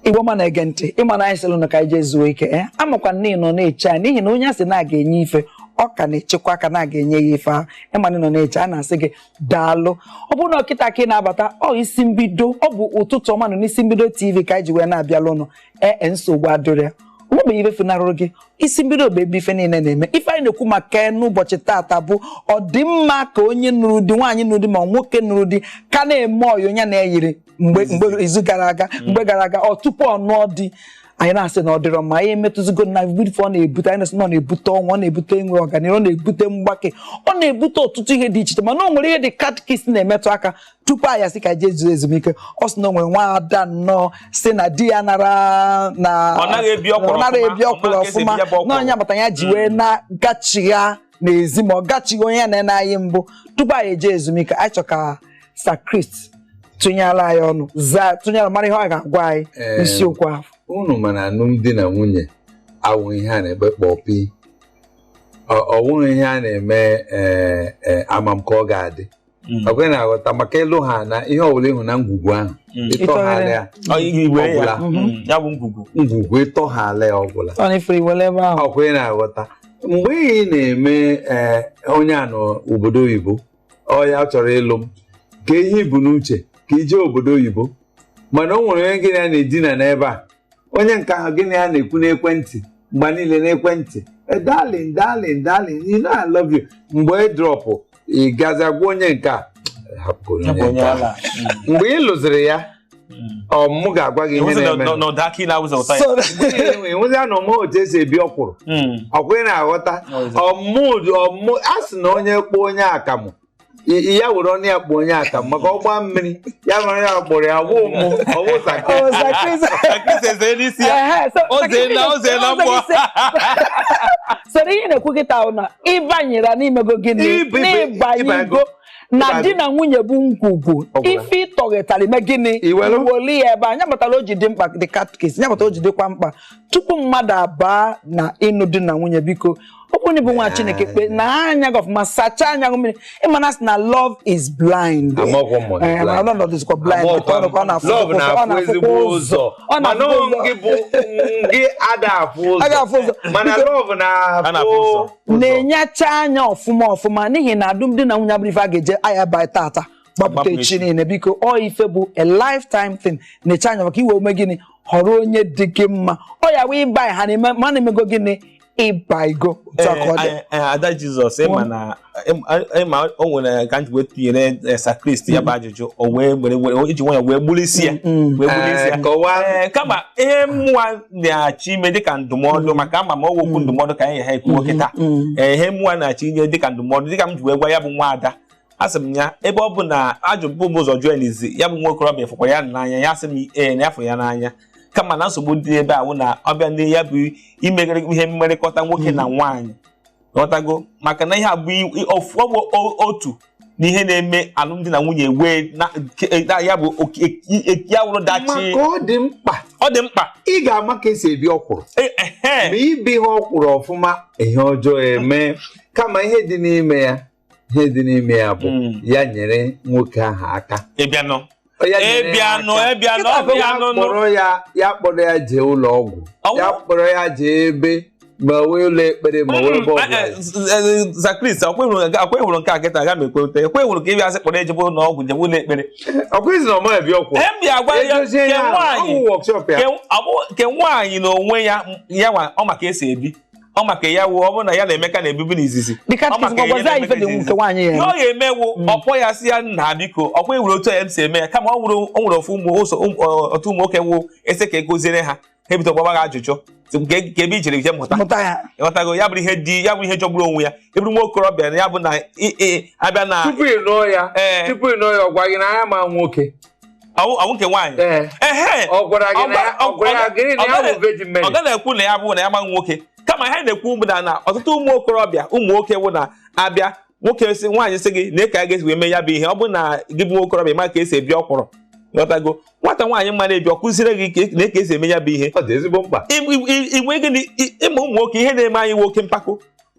igbo ọma na-ege ntị ịma na anyị sịrị na ka anyị jee zuo ike ya eh? amakwa m na ị nọ na-eche anyị n'ihi na onye a sị na a ga-enye ife ọ ka na-echekwa aka na a ga-enye ya ife ahụ ịma na ị nọ na-eche anyị na-asị gị daalụ ọ bụrụ na ọ kịta ka ị na-abata ọ isi mbido ọ bụ ụtụtụ ọma nụ n'isi mbido tv ka anyị ji wee na-abịalụ ụnụ ee e, nsogbu adịrọ ya o nwebeghị ife funarụrụ gị isi mbido bụ ebe ife niile na-eme ife anyị na-ekwu maka n'ụbọchị taata bụ ọ dị mma ka onye nụrụ di nwaanyị nụrụ di ma nwoke nụrụ di ka na-eme ọyị onye na-eyiri mgbe mgbe izu gara aga mm. mgbe gara aga ọ tupu ọ nụọ di anyị na-asị na ọ dịrọ mma anyị emetụzigo na ife ọ na-ebute anyị na-asị na ọ na-ebute ọnwụ ọ na-ebute enwe ọganihu ọ na-ebute mgbake ọ na-ebute ọtụtụ ihe dị iche iche mana o nwere ihe De Catechist na-emetụ aka tupu anyị asị ka jee zuo ezumike ọ sị na o nwere nwa ada nnọọ si na di ya nara na Ọ naghị ebi ọkwụrụ ọ naghị ọfụma, ebi ọ ọkwụrụ maghị ka esi ọfụma ebi ya bụ ọkwụrụ. na ọ nya kpata ya ji wee na-gachigha n'ezi ma ọ gachigha onye ya na ya na-ayị mbụ tupu anyị eje ezumike anyị chọ ka Sir Chris tụnyere anyị ọnụ zaa tụnyere mara ihe ọ ga-agwa anyị Ee. n'isiokwu ahụ unu ma na alụmdi na nwunye awụrọ ihe a na-ekpe kpọpi ọ ọ wụrọ ihe a na-eme ee, ee, ama m ka ọ ga-adị Mm. ọkwa ị na-aghọta maka ịlụ ha na ihe ọbụla ịhụ na ngwugwu ahụ Mm. ịtọghela ya Ọ ihe igwe ya Ọgwụla. Mm. ya bụ ngwugwu ngwugwu ịtọghela ya ọgwụla ọ na-efere iwere ebe ahụ ọkwa ị na-aghọta mgbe ị na-eme ee, onye a nọ obodo oyibo ọ ya chọrọ ịlụ m ka ihe i bu n'uche ka i je obodo oyibo mana o nwere onye gị na ya na-edina n'ebe a onye nke ahụ gị na ya na-ekwu n'ekwentị mgbe niile n'ekwentị "Eh, darling darling darling you know I love you mgbe ị drọpụ ị gazie gwa onye nke a hapụ onye Ya bụ onye nke a. ala. mgbe ị lụziri ya ọ mụ ga-agwa gị ihe Ịhụzị na- na-eme na- na ụda aka ị na-awụza ụta ya. So, enwezi na ọ mụọ otu esi ebi ọkwụrụ Mm. ọkwa ị na-aghọta ọmụ ọmụ a sị na onye kpọọ onye akamụ ya were ọnụ ya kpụ onye aka maka ọgba mmiri ya nwere ya kpụrụ ya wụ mụ ọwụ zaka soro ihe na-ekwu kịta na ịbanyere na i mego gịnị n'ịbanyego na di na nwunye bụ ngwugwu ife ịtọghetara i mee gịnị iweli ya ebe a nya kpatara o ji dị mkpa De Catechist nya kpatara o ji dịkwa mkpa tupu mmadụ abaa na ịnụ di na nwunye biko ọ bụrụ na ịbụ nwa chineke kpe na anya gị ọfụma sachaa anya gị mmiri ịma na a sị na love is blind Amaghịkwa m ma ọ dị Eh, blind. mana ọ nọdụzikwa blind Amaghịkwa m. ọ nọkwa- ọ na-afụ Love ụzọ, ọ na-afụ na-afụkwa ezigbo ụzọ ụzọ ọ mana na-afụ ọ ụzọ gị bụ gị ada afụ A ga-afụ ụzọ. ụzọ mana Biko- love A na-afụ ụzọ. na-afụ na-enyecha anya ọfụma ọfụma n'ihi na alụmdi na nwunye abụrọ ife a ga-eje aya ba tata gbapụta Gbapụ echi echi. niile biko ọ ife bụ a lifetime thing na-eche anya maka i wee mee gịnị họrọ onye dị gị mma ọ ya wee ịba ha na-eme ma na-emego gịnị ịba igo otu aka ọ dị Eh, eh, eh, ada jizọs ịma na ịma o nwere ka m ji wee tụnyere eh, Sakrist ya bụ ajụjụ o wee were were iji nwayọ wee gburu isi ya wee gburu isi ya kọwaa Ee, kama ihe mụwa na-achọ ime dịka ndụmọdụ maka ama m ọ wụ okwu ndụmọdụ ka anyị ga-ekwu kịta Ee, ihe mụwa na-achọ inye dịka ndụmọdụ dịka m ji wee gwa ya bụ nwa ada asị m ya ebe ọ bụ na ajụbu m ụzọ jụọ n'izizi ya bụ nwa okorobịa fụkwa ya n'anya ya sị m ee na ya fụrụ ya n'anya kama na nsogbu dị ebe ahụ na ọ bịa ndị ya bụ imegharị ihe mmerịkọta nwoke na hmm. nwaanyị ghọtago maka na ihe a bụ otu n'ihe na-eme alụmdi na nwunye wee e, ya bụ ya wụrụ dachi ọ dị mkpa ọ dị mkpa ị ga-ama ka e si ebi ọkwụrụ e, ma i biha ọkwụrụ ọfụma ihe ọjọọ eme kama ihe dị n'ime ya ihe dị n'ime ya bụ hmm. ya nyere nwoke ahụ aka ịbịanụ ịbịanụ ịbịanụ ọbịanụ kpọrọ ya ya kpọrọ ya jee ụlọ ọgwụ ya kpọrọ ya jee ebe ma wee ụlọ ekpere ma wee hmm, ebe ọbụla eh, eh, eh, Sakrist ọkwa ị hụrụ nke a kịta aga m ekweta ọkwa ị hụrụ ka ị bịa sị kpọrọ ya jebe ụlọ ọgwụ jebe ụlọ ekpere ọkwa na ọ ma ebi ọkwụrụ ke nwaanyị na onwe ya ya ọ ma ka e si ebi ọ ma ka ya wụ ọ bụrụ na ya na Emeka na-ebibu n'izizi ọ ga-emewu mm. ọ kpọọ ya sị ya nna biko ọkwa e nwere otu ya si eme ya kama o nwere ofu ụmụ ụzọ um, otu ụmụ nwoke wụ a sị ka e goziere ha ha ebido gbaba gị ajụjụ ka ebe i jere ije mụta ị ghọtago ya bụrụ ihe di ya bụrụ ihe jọgburu onwe ya ị bụrụ nwa okorobịa na ya bụ na a bịa na tupu ị nụọ ya tupu ị nụọ ya ọ gwa gị na ya ma nwoke ọ wụ nke nwaanyị ehe ọ gaghị ekwu na ya bụ na ya amaghị nwoke kama ihe na-ekwu bụ na ọtụtụ ụmụ okorobịa ụmụ nwoke wụ na a bịa nwoke si nwaanyị sị gị na ị ka a ga-esi wee mee ya bụ ihe ọ bụ na gị bụ nwokorobịa ma ka e si ebi ọkwụrụ ghọtago nwata nwaanyị ma na-ebi ọ kụziere gị na eke e si eme ya bụ ihe ọ dị ezigbo mkpa ị ma ụmụ nwoke ihe na-eme anyị nwoke mpako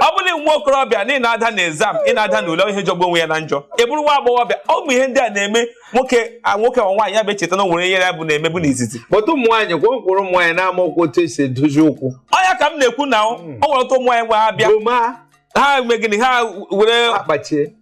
ọ bụ na nwa okorobịa na ị na-ada na exam ị na-ada na ule ihe jọgbu onwe ya na njọ ị bụrụ nwa agbọghọbịa ụmụ ihe ndị a na-eme nwoke nwoke ma nwaanyị ya bụ echeta na o nwere ihe a bu na-emebu n'izizi otu ụmụ nwaanyị gwa ụkwụrụ ụmụ nwaanyị na-amakwụ otu e si edozi ukwu ọ ya ka m na-ekwu na o hmm. nwere otu ụmụ nwaanyị wụ ha bịa ha mee gịnị ha were akpachie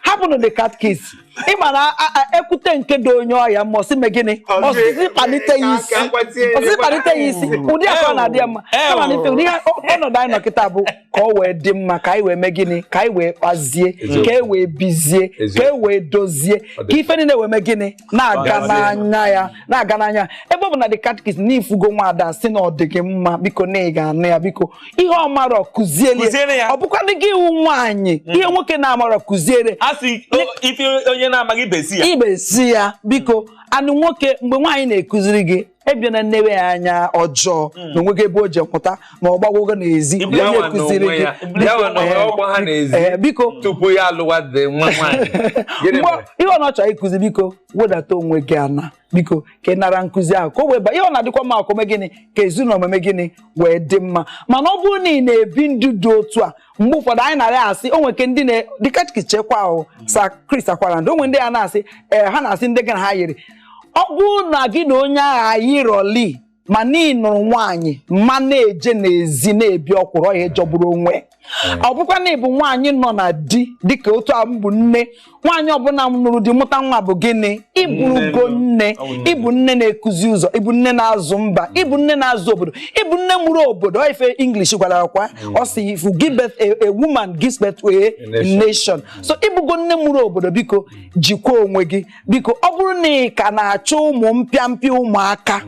hapụnụ the catechist ị ma na ekwute nke dị onye ọya ma ọ sị mee gịnị ọ sị sị kpalite ya isi ọ sị sị kpalite ya isi ụdị akọ na-adị ya mma kama na ife ụdị ọnọdụ anyị nọ kịta bụ ka o wee dị mma ka anyị wee mee gịnị ka anyị wee kpazie ka e wee bizie ka e wee dozie ka ife niile wee mee gịnị na-aga n'anya ya na-aga n'anya ebe ọ bụ na the catechist na ị fụgo nwaada sị na ọ dị gị mma biko na ị ga-anụ ya biko ihe ọ marọ kụziere ya ọ bụkwanụ gị ị wụ nwaanyị hmm. ihe nwoke na-amarọ kụziere ife onye na-amaghị ibe zi ya ibe zi ya biko and nwoke mgbe nwaanyị na-ekụziri gị ị bịa na-enewe ya anya ọjọọ hmm. na o nweghị ebe o je pụta na ọ gbagwogo n'ezi onye kụziri gị eh, biko tupu ya alụwadị nwa nwaanyị ihe ọ na-achọ ịkụzi biko wedata onwe gị ana biko ka ị nara nkụzi ahụ ka o wee ba ihe ọ na-adịkwa mma ka o mee gịnị ka ezinụlọ mee gịnị wee dị mma mana ọ bụrụ na ị na-ebi ndụ dị otu a mgbe ụfọdụ anyị na-arị asị o nweke ndị dịka chekwa ahụ Sir Chris Akwarandu o nwe ndị a na-asị ee eh, ha na-asị ndị gị na ha yiri ọ bụrụ na gị na onye ahụ eyirọli ma na ị nụrụ nwaanyị ma na-eje n'ezi na-ebi ọkwụrụ ọ ihe jọgburu onwe hmm. ọ bụkwa na ị bụ nwaanyị nọ na di dịka otu a m bụ nne nwaanyị ọbụla nụrụ di mụta nwa bụ gịnị ị bụrụgo nne ị bụ nne na-ekuzi ụzọ ị bụ nne na-azụ mba ị bụ nne na-azụ obodo ị bụ nne mụrụ obodo ife English gwara akwa mm. ọ sị if you give birth a woman gives birth to a nation so ị bụgo nne mụrụ obodo biko jikwa onwe gị biko ọ bụrụ na ị ka na-achọ ụmụ mpịampịa ụmụaka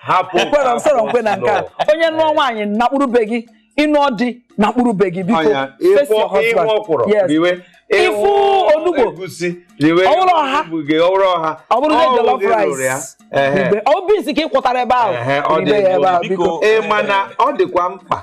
hapụ ekwerọ m esorọ m kwe na nke a onye nụọ nwaanyị nọkpuru be gị ị nụọ di nọkpuru be gị biko face your husband yes ị fụ onugbu ọ wụrụ ọha ọ wụrụ na jollof rice ọ bụ nsị ka i kutara ebe ahụ ribe ya ebe ahụ biko ị ma na ọ dịkwa mkpa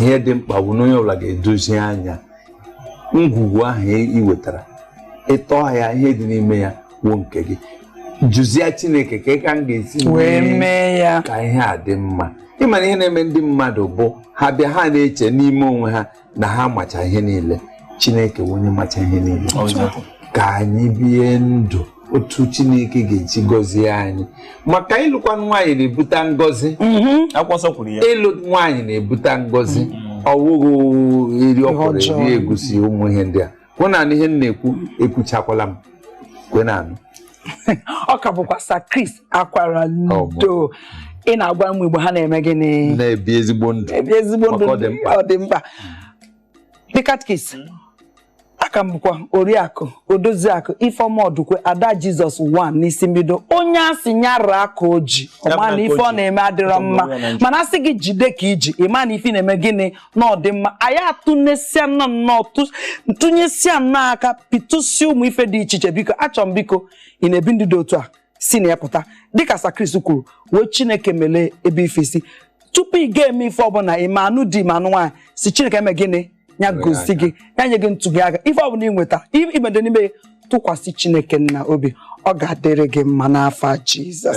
ihe dị mkpa bụ na onye ọbụla ga-edozi anya ngwugwu ahụ ị wetara ị tọọ ya ihe dị n'ime ya wụ nke gị jụzie chineke kee ka m ga-esi wee mee ya ka ihe a dị mma ị ma na ihe na-eme ndị mmadụ bụ ha bịa ha na-eche n'ime onwe ha na ha macha ihe niile chineke wụ onye macha ihe niile ka anyị bie ndụ otu chineke ga-eji gọzie anyị maka ịlụkwa nwaanyị na-ebute ngọzi mm-hmm. ịlụ nwaanyị na-ebute ngọzi mm-hmm. ọ wụghị eri ọkwụrụ eri egusi ụmụ ihe ndị ahụ na ihe m na-ekwu ekwuchakwala m kwenanụ ọ ka bụkwa Sir Chris Akwarandu ị na-agwa ụmụ Igbo ha na-eme gịnị na-ebi ezigbo ndụ ọ dị mkpa the catechist mm-hmm. a ka m bụkwa oriakụ odoziakụ ifeọma ọdụkwe ada jizọs one n'isi mbido onye a sị ya raa aka o ji ọ ma na ife ọ na-eme adịrọ mma mana a sị gị jide ka i ji ị ma na ife na-eme gịnị na ọ dị mma anyị atụnyesia nnọọ ọnụ tụnyesia nnọọ aka pịtụsịa ụmụ ife dị iche iche biko achọ m biko ị na-ebi ndụ dị otu a si na ya pụta dịka Sir Chris kwuru wee chineke melee ebe ife si tupu ị ga-eme ife ọbụla ị ma anụ di ma anụ nwaanyị sị chineke mee gịnị ya gosi gị ya nye gị ntụzi aka ife ọbụla ị nweta i bide n'ime tụkwasị chineke nna obi ọ ga-adịrị gị mma n'afa jizọs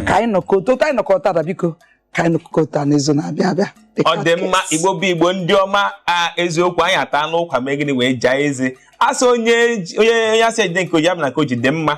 ka anyị nọkọta otu anyị nọkọta taa biko ka anyị nọkọta n'izu na-abịa abịa ọ dị mma igbo bụ igbo ndị ọma a eziokwu anyị atana ụkwa mee gịnị wee jaa eze a sị onye onye a sị ya jide nke o ji ọ bụ na nke o ji dị mma